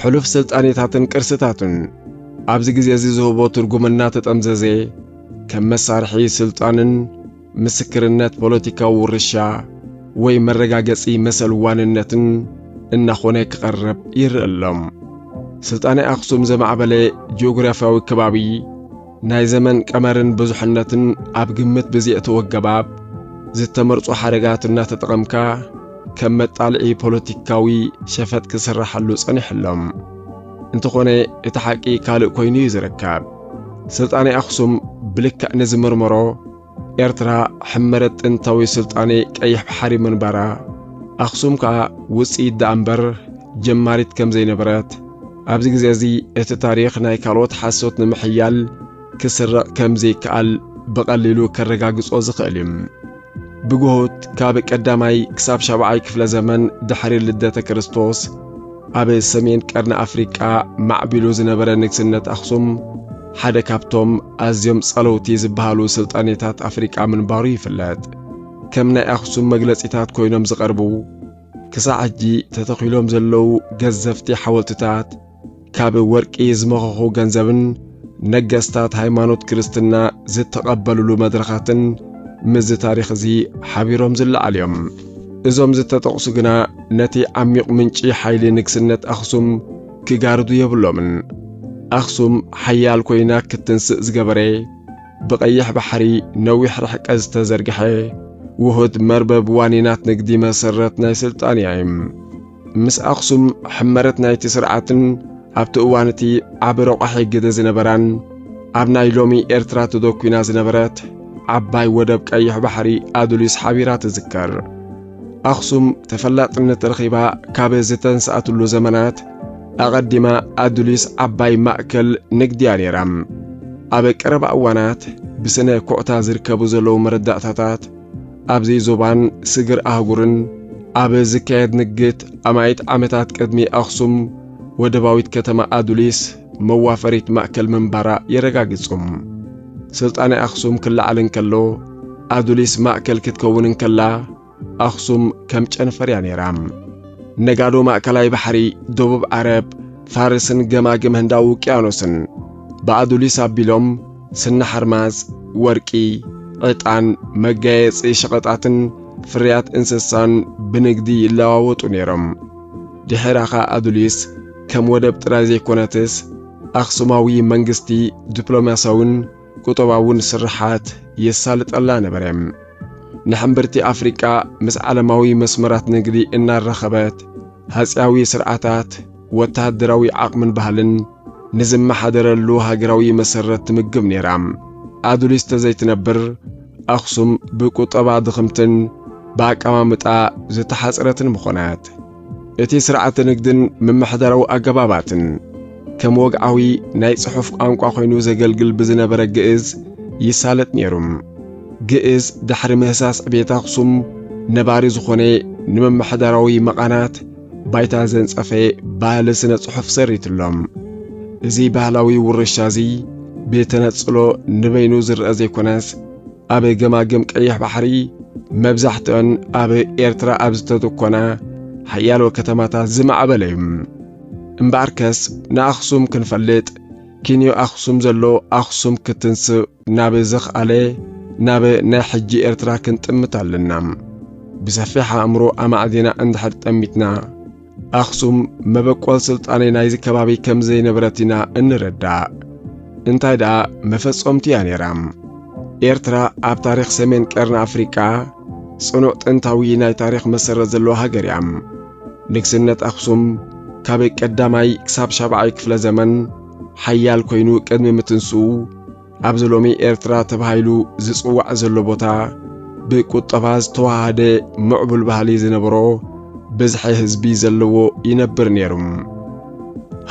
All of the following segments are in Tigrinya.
ሕሉፍ ስልጣኔታትን ቅርስታቱን ኣብዚ ግዜ እዚ ዝህቦ ትርጉም እናተጠምዘዘ ከም መሳርሒ ስልጣንን ምስክርነት ፖለቲካዊ ውርሻ ወይ መረጋገጺ መሰል ዋንነትን እናኾነ ክቐርብ ይርእ ኣሎ። ስልጣኔ ኣኽሱም ዘማዕበለ ጂኦግራፍያዊ ከባቢ ናይ ዘመን ቀመርን ብዙሕነትን ኣብ ግምት ብዘእተወ ኣገባብ ዝተመርጹ ሓረጋት እናተጠቐምካ ከም መጣልዒ ፖለቲካዊ ሸፈጥ ክስራሓሉ ጸኒሑ ኣሎ። እንተኾነ እቲ ሓቂ ካልእ ኮይኑ እዩ ዝርከብ። ስልጣኔ ኣኽሱም ብልክዕ ንዝምርምሮ ኤርትራ ሕመረት ጥንታዊ ስልጣኔ ቀይሕ ባሕሪ ምንባራ ኣኽሱም ከኣ ውጽኢት ደኣ እምበር ጀማሪት ከም ዘይነበረት ኣብዚ ግዜ እዚ እቲ ታሪኽ ናይ ካልኦት ሓሶት ንምሕያል ክስረቕ ከም ዘይከኣል ብቐሊሉ ከረጋግጾ ዝኽእል እዩ። ብግሁት ካብ ቀዳማይ ክሳብ ሻብዓይ ክፍለ ዘመን ድሕሪ ልደተ ክርስቶስ ኣብ ሰሜን ቀርኒ ኣፍሪቃ ማዕቢሉ ዝነበረ ንግስነት ኣኽሱም ሓደ ካብቶም ኣዝዮም ጸለውቲ ዝበሃሉ ስልጣኔታት ኣፍሪቃ ምንባሩ ይፍለጥ። ከም ናይ ኣኽሱም መግለጺታት ኮይኖም ዝቐርቡ ክሳዕ ሕጂ ተተኺሎም ዘለዉ ገዘፍቲ ሓወልትታት ካብ ወርቂ ዝመኸኹ ገንዘብን ነገስታት ሃይማኖት ክርስትና ዝተቐበልሉ መድረኻትን ምስዚ ታሪኽ እዚ ሓቢሮም ዝለዓሉ እዮም። እዞም ዝተጠቕሱ ግና ነቲ ዓሚቕ ምንጪ ሓይሊ ንግስነት ኣኽሱም ክጋርዱ የብሎምን። ኣኽሱም ሓያል ኮይና ክትንስእ ዝገበረ ብቐይሕ ባሕሪ ነዊሕ ርሕቀት ዝተዘርግሐ ውሁድ መርበብ ዋኒናት ንግዲ መሰረት ናይ ስልጣንያ እዩ። ምስ ኣኽሱም ሕመረት ናይቲ ስርዓትን ኣብቲ እዋን እቲ ዓቢ ረቋሒ ግደ ዝነበራን ኣብ ናይ ሎሚ ኤርትራ ተደኲና ዝነበረት ዓባይ ወደብ ቀይሕ ባሕሪ ኣዱሊስ ሓቢራ ትዝከር። ኣኽሱም ተፈላጥነት ረኺባ ካብ ዝተንስኣትሉ ዘመናት ኣቐዲማ ኣዱሊስ ዓባይ ማእከል ንግድያ ነይራ። ኣብ ቀረባ እዋናት ብስነ ኩዕታ ዝርከቡ ዘለዉ መረዳእታታት ኣብዚ ዞባን ስግር ኣህጉርን ኣብ ዝካየድ ንግት ኣማኢት ዓመታት ቅድሚ ኣኽሱም ወደባዊት ከተማ ኣዱሊስ መዋፈሪት ማእከል ምንባራ የረጋግጹ። ስልጣኔ ኣኽሱም ክለዓል እንከሎ ኣዱሊስ ማእከል ክትከውን እንከላ ኣኽሱም ከም ጨንፈር እያ ነይራ። ነጋዶ ማእከላይ ባሕሪ፣ ደቡብ ዓረብ፣ ፋርስን ገማግም ህንዳዊ ውቅያኖስን ብኣዱሊስ ኣቢሎም ስኒ ሓርማዝ፣ ወርቂ፣ ዕጣን፣ መጋየጺ ሸቐጣትን ፍርያት እንስሳን ብንግዲ ይለዋወጡ ነይሮም። ድሒራኻ ኣዱሊስ ከም ወደብ ጥራይ ዘይኮነትስ ኣኽሱማዊ መንግስቲ ዲፕሎማስያውን ቁጠባውን ስርሓት የሳልጠላ ነበረ። ንሕምብርቲ ኣፍሪቃ ምስ ዓለማዊ መስመራት ንግዲ እናራኸበት ሃጺያዊ ስርዓታት ወተሃደራዊ ዓቕምን ባህልን ንዝመሓደረሉ ሃገራዊ መሰረት ትምግብ ነይራ። ኣዱሊስ ተዘይትነብር ኣኽሱም ብቁጠባ ድኽምትን ብኣቀማምጣ ዝተሓጽረትን ምኾነት። እቲ ስርዓተ ንግድን ምምሕዳራዊ ኣገባባትን ከም ወግዓዊ ናይ ጽሑፍ ቋንቋ ኮይኑ ዘገልግል ብዝነበረ ግእዝ ይሳለጥ ነይሩ። ግእዝ ድሕሪ ምህሳስ ዕቤት ኣኽሱም ነባሪ ዝኾነ ንምምሕዳራዊ መቓናት ባይታ ዘንጸፈ ባህሊ ስነ ጽሑፍ ሰሪትሎም። እዚ ባህላዊ ውርሻ እዚ ብተነጽሎ ንበይኑ ዝርአ ዘይኮነስ ኣብ ገማግም ቀይሕ ባሕሪ መብዛሕትኦን ኣብ ኤርትራ ኣብ ዝተተኮና ሓያሎ ከተማታት ዝማዕበለ እዩ እምበኣርከስ ንኣኽሱም ክንፈልጥ ኪንዮ ኣኽሱም ዘሎ ኣኽሱም ክትንስእ ናብ ዘኽኣለ ናብ ናይ ሕጂ ኤርትራ ክንጥምት ኣለና። ብሰፊሕ ኣእምሮ ኣማዕዲና እንድሕር ጠሚትና፣ ኣኽሱም መበቆል ስልጣኔ ናይዚ ከባቢ ከም ዘይነበረት ኢና እንረዳእ። እንታይ ደኣ መፈጸምቱ እያ ነይራ። ኤርትራ ኣብ ታሪኽ ሰሜን ቀርኒ ኣፍሪቃ ጽኑዕ ጥንታዊ ናይ ታሪኽ መሰረት ዘለዋ ሃገር እያ። ንግስነት ኣኽሱም ካብ ቀዳማይ ክሳብ ሻብዓይ ክፍለ ዘመን ሓያል ኮይኑ ቅድሚ ምትንስኡ ኣብዚ ሎሚ ኤርትራ ተባሂሉ ዝጽዋዕ ዘሎ ቦታ ብቁጠባ ዝተዋሃደ ምዕቡል ባህሊ ዝነበሮ ብዝሒ ህዝቢ ዘለዎ ይነብር ነይሩ።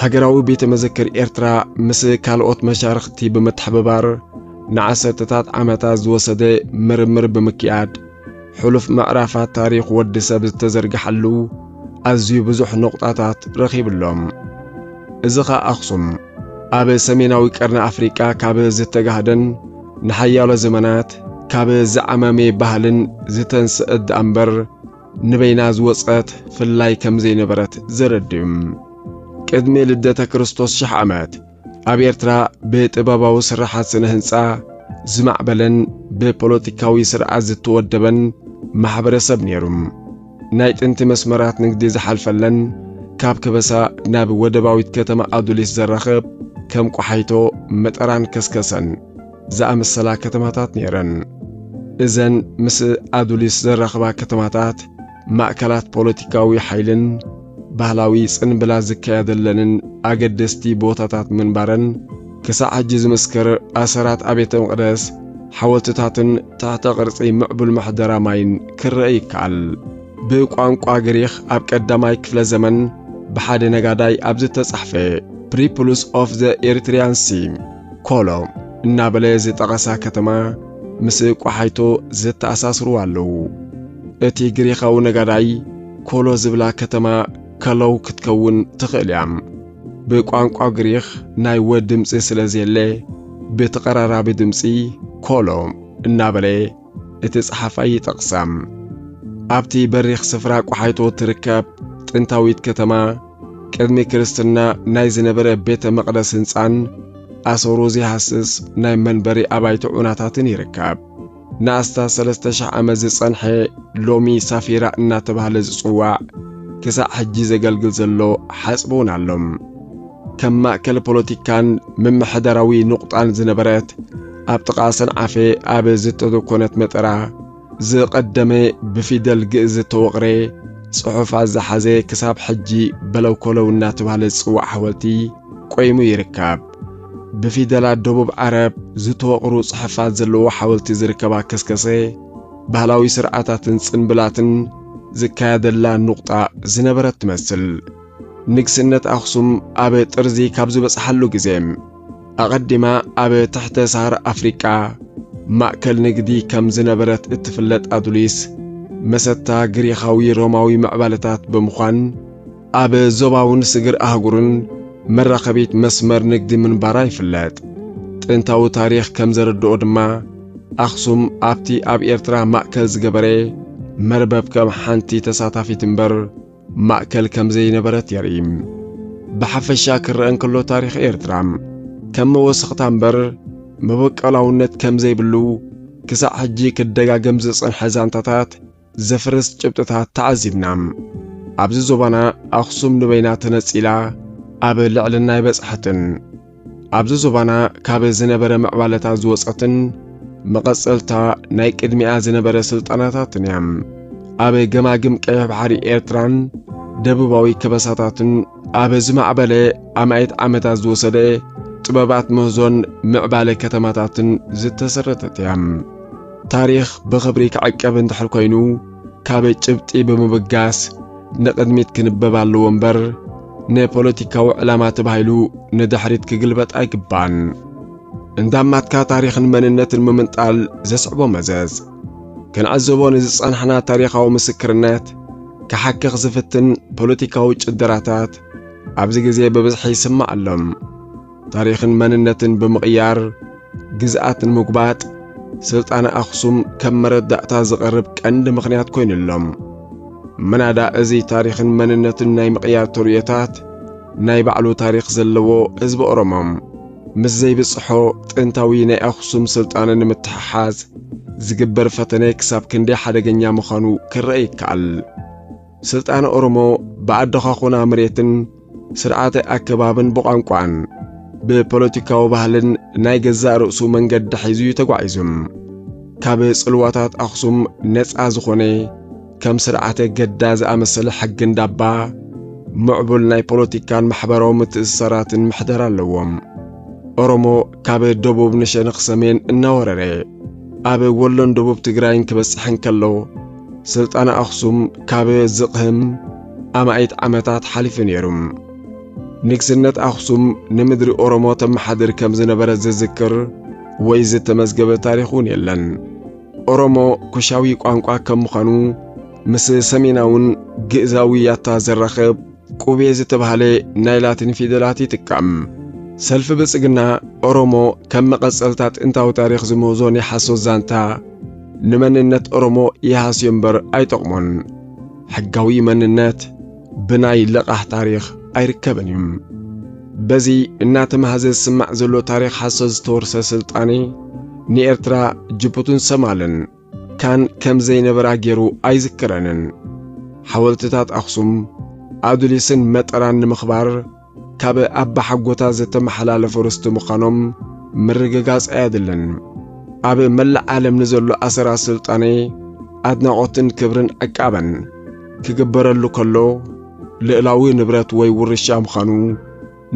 ሃገራዊ ቤተ መዘክር ኤርትራ ምስ ካልኦት መሻርኽቲ ብምትሕብባር ንዓሰርተታት ዓመታት ዝወሰደ ምርምር ብምክያድ ሕሉፍ ምዕራፋት ታሪኽ ወዲ ሰብ ዝተዘርግሓሉ ኣዝዩ ብዙሕ ነቑጣታት ረኺቡ ኣሎ። እዚ ኸኣ ኣኽሱም ኣብ ሰሜናዊ ቀርኒ ኣፍሪቃ ካብ ዝተጋህደን ንሓያሎ ዘመናት ካብ ዝዓማመየ ባህልን ዝተንስአት ደኣ እምበር ንበይና ዝወጸት ፍላይ ከም ዘይነበረት ዘረድእ እዩ። ቅድሚ ልደተ ክርስቶስ ሽሕ ዓመት ኣብ ኤርትራ ብጥበባዊ ስራሓት ስነ ህንጻ ዝማዕበለን ብፖለቲካዊ ስርዓት ዝተወደበን ማሕበረሰብ ነይሩ። ናይ ጥንቲ መስመራት ንግዲ ዝሓልፈለን ካብ ከበሳ ናብ ወደባዊት ከተማ ኣዱሊስ ዘራኽብ ከም ቆሓይቶ፣ መጠራን ከስከሰን ዝኣመሰላ ከተማታት ነይረን። እዘን ምስ ኣዱሊስ ዘራኽባ ከተማታት ማእከላት ፖለቲካዊ ሓይልን ባህላዊ ጽንብላ ዝካየደለንን ኣገደስቲ ቦታታት ምንባረን ክሳዕ ሕጂ ዝምስክር ኣሰራት ኣብያተ መቕደስ ሓወልትታትን ትሕተ ቕርጺ ምዕቡል ምሕደራ ማይን ክረአ ይከኣል። ብቋንቋ ግሪኽ ኣብ ቀዳማይ ክፍለ ዘመን ብሓደ ነጋዳይ ኣብ ዝተጻሕፈ ፕሪፕሉስ ኦፍ ዘ ኤሪትሪያን ሲ ኮሎ እናበለ ዝጠቐሳ ከተማ ምስ ቋሓይቶ ዘተኣሳስርዋ ኣለዉ። እቲ ግሪኻዊ ነጋዳይ ኮሎ ዝብላ ከተማ ከሎው ክትከውን ትኽእል እያ። ብቋንቋ ግሪኽ ናይ ወ ድምፂ ስለ ዘየለ ብተቐራራቢ ድምፂ ኮሎ እናበለ እቲ ፀሓፋይ ይጠቕሳ። ኣብቲ በሪኽ ስፍራ ቋሓይቶ ትርከብ ጥንታዊት ከተማ ቅድሚ ክርስትና ናይ ዝነበረ ቤተ መቕደስ ህንፃን ኣሰሩ ዘይሃስስ ናይ መንበሪ ኣባይቲ ዑናታትን ይርከብ። ንኣስታት ሰለስተ ሽሕ ዓመት ዝጸንሐ ሎሚ ሳፊራ እናተባህለ ዝጽዋዕ ክሳዕ ሕጂ ዘገልግል ዘሎ ሓጽቢ እውን ኣሎ። ከም ማእከል ፖለቲካን ምምሕዳራዊ ንቑጣን ዝነበረት ኣብ ጥቓ ሰንዓፈ ኣብ ዝተተኮነት መጠራ ዝቐደመ ብፊደል ግእዝ ዝተወቕረ ጽሑፋት ዝሓዘ ክሳብ ሕጂ በለውኮለው እናተባህለ ዝጽዋዕ ሓወልቲ ቆይሙ ይርከብ። ብፊደላት ደቡብ ዓረብ ዝተወቕሩ ጽሐፋት ዘለዎ ሓወልቲ ዝርከባ ከስከሰ፣ ባህላዊ ስርዓታትን ጽንብላትን ዝካየደላ ኑቕጣ ዝነበረት ትመስል። ንግስነት ኣኽሱም ኣብ ጥርዚ ካብ ዝበጽሓሉ ግዜ ኣቐዲማ ኣብ ትሕተ ሳሃራ ኣፍሪቃ ማእከል ንግዲ ከም ዝነበረት እትፍለጥ ኣዱሊስ፣ መሰታ ግሪኻዊ ሮማዊ ምዕባለታት ብምዃን ኣብ ዞባውን ስግር ኣህጉርን መራኸቢት መስመር ንግዲ ምንባራ ይፍለጥ። ጥንታዊ ታሪኽ ከም ዘረድኦ ድማ ኣኽሱም ኣብቲ ኣብ ኤርትራ ማእከል ዝገበረ መርበብ ከም ሓንቲ ተሳታፊት እምበር ማእከል ከም ዘይነበረት የርኢ። ብሓፈሻ ክረአ እንከሎ ታሪኽ ኤርትራ ከም መወሰኽታ እምበር መበቆላውነት ከም ዘይብሉ ክሳዕ ሕጂ ክደጋገም ዝጸንሐ ዛንታታት ዘፍርስ ጭብጥታት ተዓዚብና። ኣብዚ ዞባና ኣኽሱም ንበይና ተነጺላ ኣብ ልዕልና ኣይበጽሐትን። ኣብዚ ዞባና ካብ ዝነበረ ምዕባለታት ዝወጸትን መቐጸልታ ናይ ቅድሚኣ ዝነበረ ስልጣናታትን እያ። ኣብ ገማግም ቀይሕ ባሕሪ ኤርትራን ደቡባዊ ከበሳታትን ኣብ ዝማዕበለ ኣማኢት ዓመታት ዝወሰደ ጥበባት ምህዞን ምዕባለ ከተማታትን ዝተሰረተት እያ። ታሪኽ ብኽብሪ ክዕቀብ እንድሕር ኮይኑ ካብ ጭብጢ ብምብጋስ ንቕድሚት ክንበብ ኣለዎ እምበር ንፖለቲካዊ ዕላማ ተባሂሉ ንድሕሪት ክግልበጥ ኣይግባእን። እንዳማትካ ታሪኽን መንነትን ምምንጣል ዘስዕቦ መዘዝ ክንዕዘቦ ንዝጸናሕና ታሪኻዊ ምስክርነት ክሓክኽ ዝፍትን ፖለቲካዊ ጭደራታት ኣብዚ ግዜ ብብዝሒ ይስማዕ ኣሎ። ታሪኽን መንነትን ብምቕያር ግዝኣት ንምጉባጥ ስልጣነ ኣኽሱም ከም መረዳእታ ዝቐርብ ቀንዲ ምኽንያት ኮይኑ ኣሎ። ምናዳ እዚ ታሪኽን መንነትን ናይ ምቕያር ተርእዮታት ናይ ባዕሉ ታሪኽ ዘለዎ ህዝቢ ኦሮሞ ምስ ዘይብጽሖ ጥንታዊ ናይ ኣኽሱም ስልጣነ ንምትሕሓዝ ዝግበር ፈተነ ክሳብ ክንደይ ሓደገኛ ምዃኑ ክረኣ ይከኣል። ስልጣነ ኦሮሞ ብኣደኻኹና መሬትን ስርዓተ ኣከባብን ብቋንቋን ብፖለቲካዊ ባህልን ናይ ገዛእ ርእሱ መንገዲ ሒዙ እዩ ተጓዒዙ። ካብ ጽልዋታት ኣኽሱም ነጻ ዝኾነ ከም ስርዓተ ገዳ ዝኣመሰለ ሕጊ እንዳባ ምዕቡል ናይ ፖለቲካን ማሕበራዊ ምትእስሳራትን ምሕደራ ኣለዎ። ኦሮሞ ካብ ደቡብ ንሸነኽ ሰሜን እናወረረ ኣብ ወሎን ደቡብ ትግራይን ክበጽሕ እንከሎ ስልጣነ ኣኽሱም ካብ ዝቕህም ኣማኢት ዓመታት ሓሊፉ ነይሩ። ንግስነት ኣኽሱም ንምድሪ ኦሮሞ ተመሓድር ከም ዝነበረ ዝዝክር ወይ ዝተመዝገበ ታሪኽ እውን የለን። ኦሮሞ ኩሻዊ ቋንቋ ከም ምዃኑ ምስ ሰሜናውን ግእዛዊ ያታ ዘራኽብ ቁቤ ዝተባህለ ናይ ላቲን ፊደላት ይጥቀም። ሰልፊ ብልጽግና፣ ኦሮሞ ከም መቐጸልታ ጥንታዊ ታሪኽ ዝምህዞ ናይ ሓሶት ዛንታ፣ ንመንነት ኦሮሞ ይሃስዮ እምበር ኣይጠቕሞን። ሕጋዊ መንነት ብናይ ለቓሕ ታሪኽ ኣይርከብን እዩ። በዚ እናተማህዘ ዝስማዕ ዘሎ ታሪኽ ሓሶት ዝተወርሰ ስልጣኔ፣ ንኤርትራ፣ ጅቡትን ሰማልን፣ ካን ከም ዘይነበራ ገይሩ ኣይዝክረንን። ሓወልትታት ኣኽሱም፣ ኣዱሊስን መጠራን ንምኽባር ካብ ኣባሓጎታ ዝተመሓላለፉ ርስቲ ምዃኖም ምርግጋጽ ኣየድልን። ኣብ መላእ ዓለም ንዘሎ ኣሰራት ስልጣኔ ኣድናቖትን ክብርን ዕቃበን ክግበረሉ ከሎ ልእላዊ ንብረት ወይ ውርሻ ምዃኑ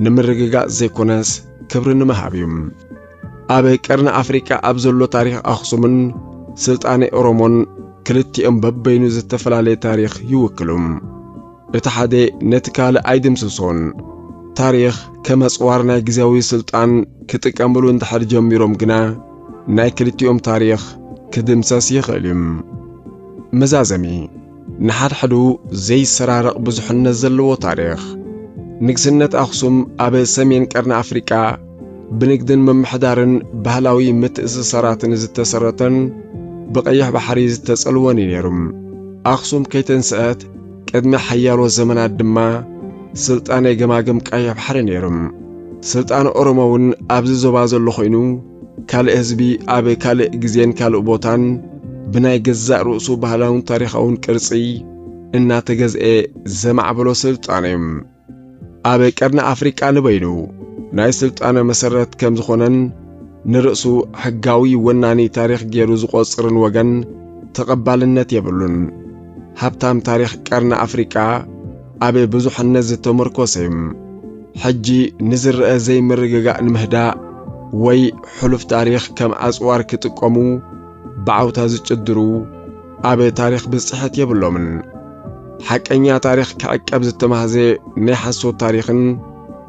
ንምርግጋጽ ዘይኮነስ ክብሪ ንምሃብ እዩ። ኣብ ቀርኒ ኣፍሪቃ ኣብ ዘሎ ታሪኽ ኣኽሱምን ስልጣኔ ኦሮሞን ክልቲኦም በበይኑ ዝተፈላለየ ታሪኽ ይውክሉ። እቲ ሓደ ነቲ ካልእ ኣይድምስሶን። ታሪኽ ከም ኣጽዋር ናይ ግዜያዊ ስልጣን ክጥቀምሉ እንድሕር ጀሚሮም ግና ናይ ክልቲኦም ታሪኽ ክድምሰስ ይኽእል እዩ። መዛዘሚ ንሓድሕዱ ዘይሰራረቕ ብዙሕነት ዘለዎ ታሪኽ። ንግስነት ኣኽሱም ኣብ ሰሜን ቀርኒ ኣፍሪቃ ብንግድን ምምሕዳርን ባህላዊ ምትእስሳራትን ዝተሰረተን ብቀይሕ ባሕሪ ዝተጸልወን እዩ ነይሩ። ኣኽሱም ከይተንስአት ቅድሚ ሓያሎ ዘመናት ድማ ስልጣኔ ገማግም ቀይሕ ባሕሪ ነይሩ። ስልጣነ ኦሮሞ'ውን ኣብዚ ዞባ ዘሎ ኮይኑ ካልእ ህዝቢ ኣብ ካልእ ግዜን ካልእ ቦታን ብናይ ገዛእ ርእሱ ባህላውን ታሪኻውን ቅርጺ እናተገዝኤ ዘማዕበሎ ስልጣነ እዩ። ኣብ ቀርኒ ኣፍሪቃ ንበይኑ ናይ ስልጣነ መሰረት ከም ዝኾነን ንርእሱ ሕጋዊ ወናኒ ታሪኽ ገይሩ ዝቖጽርን ወገን ተቐባልነት የብሉን። ሃብታም ታሪኽ ቀርኒ ኣፍሪቃ ኣብ ብዙሕነት ዝተመርኮሰ እዩ። ሕጂ ንዝረኣ ዘይምርግጋእ ንምህዳእ ወይ ሕሉፍ ታሪኽ ከም ኣጽዋር ክጥቀሙ ብዓውታ ዝጭድሩ ኣብ ታሪኽ ብጽሕት የብሎምን። ሓቀኛ ታሪኽ ክዕቀብ ዝተማህዘ ናይ ሓሶት ታሪኽን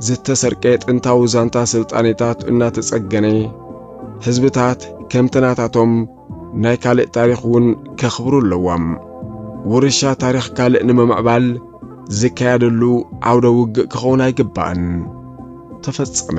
ዝተሰርቀ ጥንታዊ ዛንታ ስልጣኔታት እናተጸገነ ህዝብታት ከምቲ ናታቶም ናይ ካልእ ታሪኽ እውን ከኽብሩ ኣለዎም። ውርሻ ታሪኽ ካልእ ንምምዕባል ዝካየደሉ ዓውደ ውግእ ክኸውን ኣይግባእን። ተፈጸመ።